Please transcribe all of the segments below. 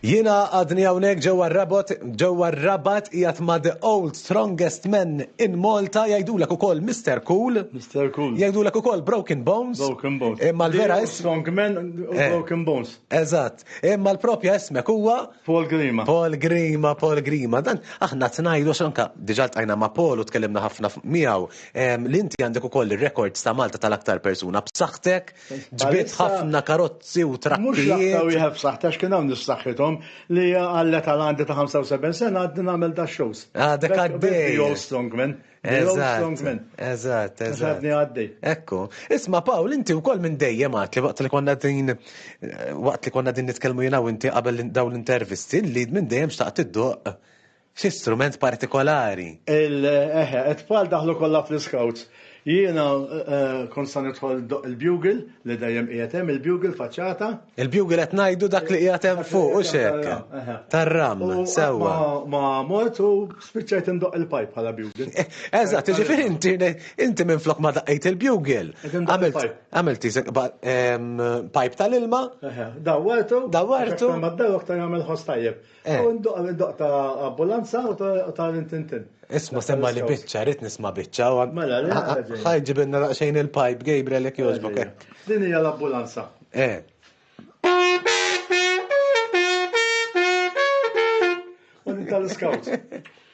Jiena għadni hawnhekk ġewwa r-rabot ġewwa r-rabat qiegħed ma' the old strongest men in Malta jgħidulek ukoll Mr. Cool. Mr. Cool. Jgħidulek ukoll Broken Bones. Broken Bones. Imma l-vera is. Strong men eh. Broken Bones. Eżatt. Imma l-propja ismek huwa Paul Grima. Paul Grima, Paul Grima. Dan aħna tnajdu xanka diġà tajna ma' Paul u tkellimna ħafna miegħu li inti għandek ukoll ir-rekords ta' Malta tal-aktar persuna b'saħħtek, ġbiet ħafna karozzi u trakkijiet. Mhux l-aktar wieħed b'saħħtek x'kien hawn nissaħħithom li għal età għandi ta' 75 sena għadni nagħmel da' shows. Għadek għaddej. The old strongman. The old strongman. Eżatt, eżatt. Għadni għaddej. Ekku. Isma' Pawl, inti wkoll minn dejjem għad li waqt li konna din waqt li konna din nitkellmu jiena u inti qabel dawn l-intervisti li minn dejjem xtaqt iddoq Xi strument partikolari. Il, eħe, it-tfal daħlu kollha fl-iskawts. Jiena kont sa nidħol ndoqq il-bugle, li dejjem qiegħed hemm, il-bugle, faċċata. Il-bugle qed ngħidu dak li qiegħed hemm fuq, hux hekk? Tar-ram, sewwa. U qatt ma mort u spiċċajt indoqq il-pajp bħala bugle. Eżatt, jiġifieri inti, inti minflok ma daqqejt il-bugle, għamilt, għamilt tisek, pajp tal-ilma. Eħe, dawwartu. Dawwartu. Għax aktar ma ddaru aktar jagħmel ħoss tajjeb. Eh. U ndoq ndoq ta' ambulanza u ta' ta' rintintin. Isma semma li biċċa, rrit nisma biċċa. u- Mela, li Ha- ħaġa. Ħaj ġibinna daqsxejn il-pipe, Gabriel, jek joġbok. eh. Din hija l-ambulanza. Eh. U din tal-scouts.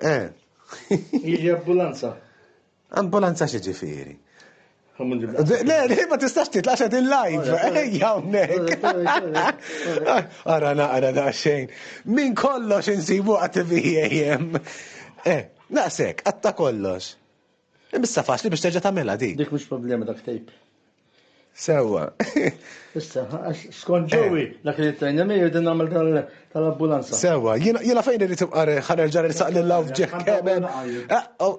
Eh. Jiġi ambulanza. Ambulanza xi ġifieri? Le, le, ma tistax titlaq xa din live, ejja hawnhekk. Ara naqra da xejn. Min kollox insibu għat VAM. Eh, naqsek, għatta kollox. Imma issa faċli biex terġa' tagħmilha din. Dik mhux problema dak tejp. Sewwa. Issa, għax skont ġewwi dak li tajna miegħi din nagħmel tal-ambulanza. Sewwa, jiena fejn irid tibqa' ħanerġa' nisaq lil hawn ġeħ kemel.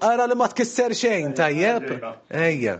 Ara li ma tkisser xejn, tajjeb? Ejja.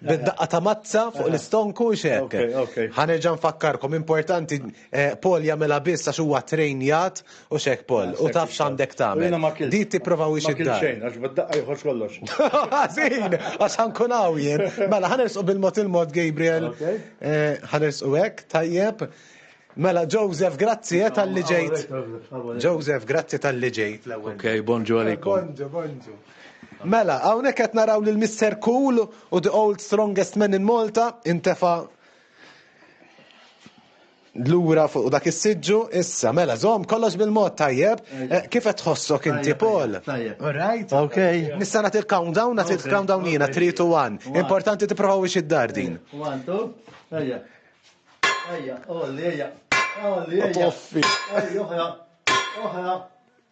bid-daqqa ta' mazza fuq l-istonku u xek. Ħanerġa' nfakkarkom, importanti eh, Paul jagħmilha biss għax huwa trejnjat u xek Paul, u taf x'għandek tagħmel. Di tipprova wiex id xejn, għax bid-daqqa joħroġ kollox. Għażin, għax ħankun hawn jien. Mela, ħanersqu bil-mod il-mod Gabriel. Eh, ħanersqu hekk, tajjeb. Mela, Joseph, grazzi eh, tal-li ġejt. Joseph, grazzi tal-li ġejt. Ok, bonġu għalikom. Bonġu, bonġu. Mela, hawnhekk qed naraw lil Mister Cool u the old strongest man in Malta intefa' lura fuq dak is-siġġu. Issa, mela, żomm kollox bil-mod tajjeb. Eh, Kif qed tħossok inti, Paul? Tajjeb. All right? Ok. Nista' nagħti l-countdown, nagħti Ok. l-countdown jiena 3 to 1. One. Importanti tipprovaw ix id-dar din. One, two. Ejja. Ejja, olli, ejja. Olli, ejja. Toffi. Ejja, oħra. Oħra.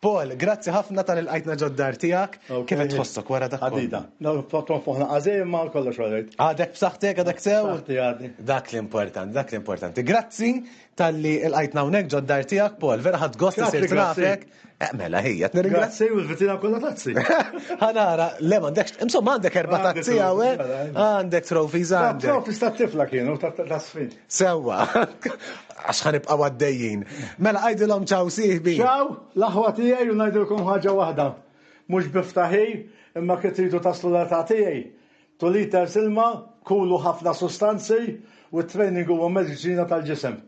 Paul, grazzi ħafna tal ilqajtna ġod dar tiegħek. Kif qed tħossok wara dak? Għadida. Tkun fuħna għażejjem ma kollox għalejt. Għadek b'saħħtek, għadek sew? B'saħħti għadi. Dak li importanti, dak li importanti. Grazzi tal-li ilqajtna hawnhekk ġod dar tiegħek, Paul. Vera ħadd gost isir nafek. Eh, mela ħija, nirringrazzja. Grazzi u l-vitina kollha tazzi. Ħanara, le m'għandekx, insomma għandek erba' tazzi hawn. Għandek trophies għandek. Trophies tat-tifla kienu, tas-sfin. Sewwa, għax ħanibqa' għaddejjin. Mela għidilhom ċaw sieħbi. Ċaw, l-aħwa tiegħi u ngħidilkom ħaġa waħda. Mhux bi ftaħir, imma kif tridu taslu l-età tiegħi. Two liters ilma, kulu ħafna sustanzi u t-training huwa mediċina tal-ġisem.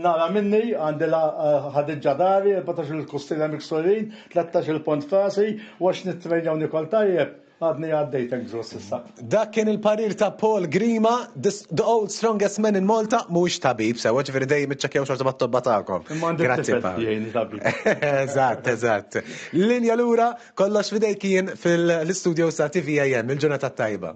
Nara minni, għandi l-Ħadiġġa dari, erbatax-il kustiela miksurin, tlettax-il pont f'rasi u għax nittrejna u nikol tajjeb, Għadni għaddejtek ġo s'issa. Dak kien il-parir ta' Paul Grima, the old strongest man in Malta, mhuwiex tabib sewa, ġifieri dejjem iċċekkjaw xorta mat-tobba tagħkom. Grazzi jgħini tabib. Eżatt, eżatt. Linja lura, kollox fidejk kien fil-istudio sa' TVAM, il-ġurnata tajba.